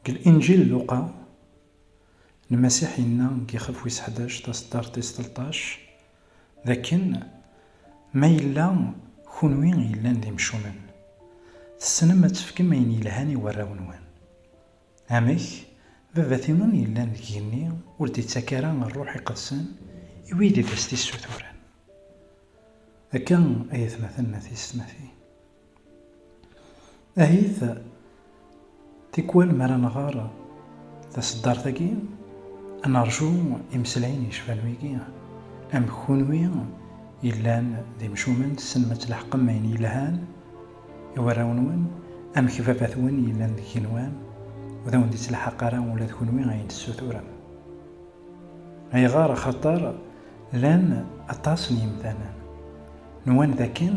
Deg Linǧil n Luqa, Lmasiḥ yenna deg yixef wis ḥdac taseddart tis tleṭṭac d akken, Ma yella kunwi yellan d imcumen, tessnem ad tefkem ayen yelhan i warraw-nwen. Amek, Baba-tnwen yellan deg yigenni ur d-ittak ara Rruḥ Iqedsen i wid i d as-t-issuturen. Akka ay atmaten n At Yissetmaten. Ahit tikwal mi ara nɣer taseddart-agi, ad nerju imeslayen yecban wigi, amek kunwi yellan d imcumen tessnem ad tleḥqem ayen yelhan i warraw-nwen, amek baba-twen yellan d igenwan ur awen-d-ittelḥaq ara ula d kunwi ayen tessuturem. Ayɣer? Axaṭer llan aṭas n yemdanen nwan d akken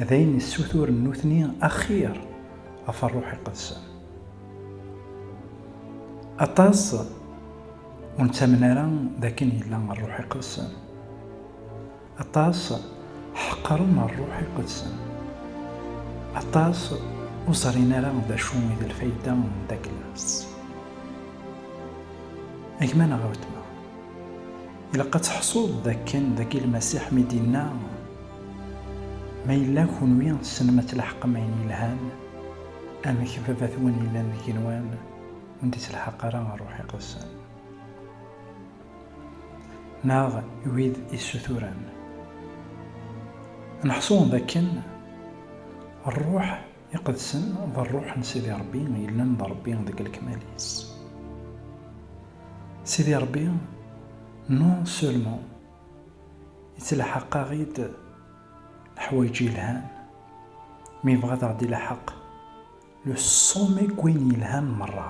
d ayen yessuturen nutni axir ɣef rruḥ iqedsen. Aṭas ur nettamen ara d akken yella rruḥ iqedsen. Aṭas ḥeqren rruḥ iqedsen. Aṭas ur ẓrin ara d acu i d lfayda n takla-s. A gma neɣ a wetma, ilaq ad teḥṣuḍ d akken dagi Lmasiḥ mi d-yenna, Ma yella kunwi tessnem ad tleḥqem ayen yelhan, amek Baba-twen yellan deg-nwen ur d-ittelḥaq ara rruḥ iqedsen? neɣ wid issuturen. Neḥṣu d akken Rruḥ iqedsen d Rruḥ n Sidi Ṛebbi yellan d Ṛebbi deg lekmal-is. Sidi Ṛebbi non seulement yettlaḥaq-aɣ-id leḥwayeǧ yelhan, mi yebɣa ad aɣ-d-ilaḥaq Le sommet deg wayen yelhan merra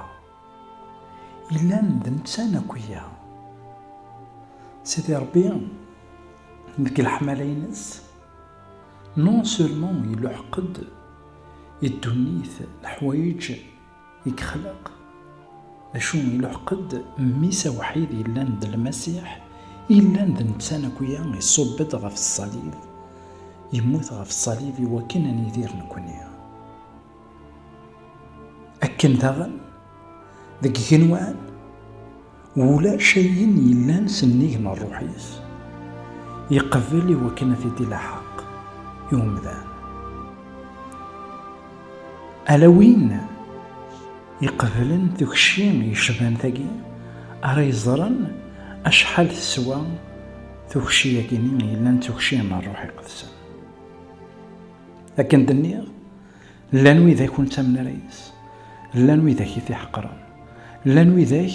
yellan d netta akk iga. Sidi Ṛebbi deg leḥmala-ines non seulement iluḥeq-d i ddunit leḥwayeǧ i yexleq, d acu iluḥeq-d Mmi-s awḥid yellan d Lmasiḥ yellan d netta akk iga iṣubb-d ɣef ṣṣalib, yemmut ɣef ṣṣalib iwakken ad nidir nekkni. akken daɣen deg igenwan wulac ayen yellan s nnig n rruḥ-is yeqbel i wakken ad t-id ilaḥaq i umdan ala win iqeblen tukci yecban tagi ara yeẓren acḥal teswa tukci-yagini yellan d tukci n rruḥ iqedsen Akken d-nniɣ, llan widak ur nettamen ara yid-s, llan widak i t-iḥeqren, llan widak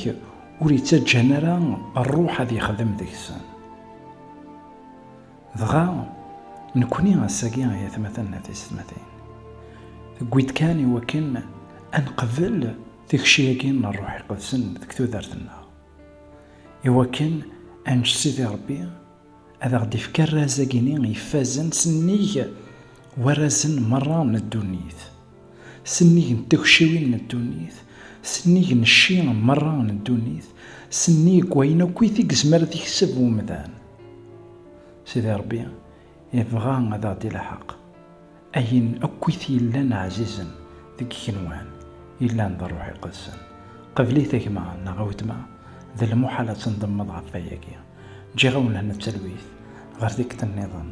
ur ittaǧǧan ara Rruḥ ad yexdem deg-sen. Dɣa, nekkni ass-agi ay atmaten d teysetmatin, tewwi-d kan i wakken ad neqbel tikci-agi n Rruḥ Iqedsen deg tudert-nneɣ, i wakken ad nečč Sidi Rebbi, Ad aɣ-d-ifk arraz-agi-ni ifazen s nnig warrazen merra n ddunit, s nnig n tagciwin n ddunit, s nnig n cci merra n ddunit, s nnig n wayen akkit i yezmer ad yekseb umdan. Sidi Rebbi ibɣa ad aɣ-d-ilḥeq. Ayen akk i t-yellan ɛzizen deg igenwan yellan d Ṛṛuḥ Iqedsen, qbel-it a gma neɣ a wetma, d lmuḥal ad tendemmeḍ ɣef wayagi. Ǧǧiɣ-awen hna d talwit ɣer tikkelt nniḍen.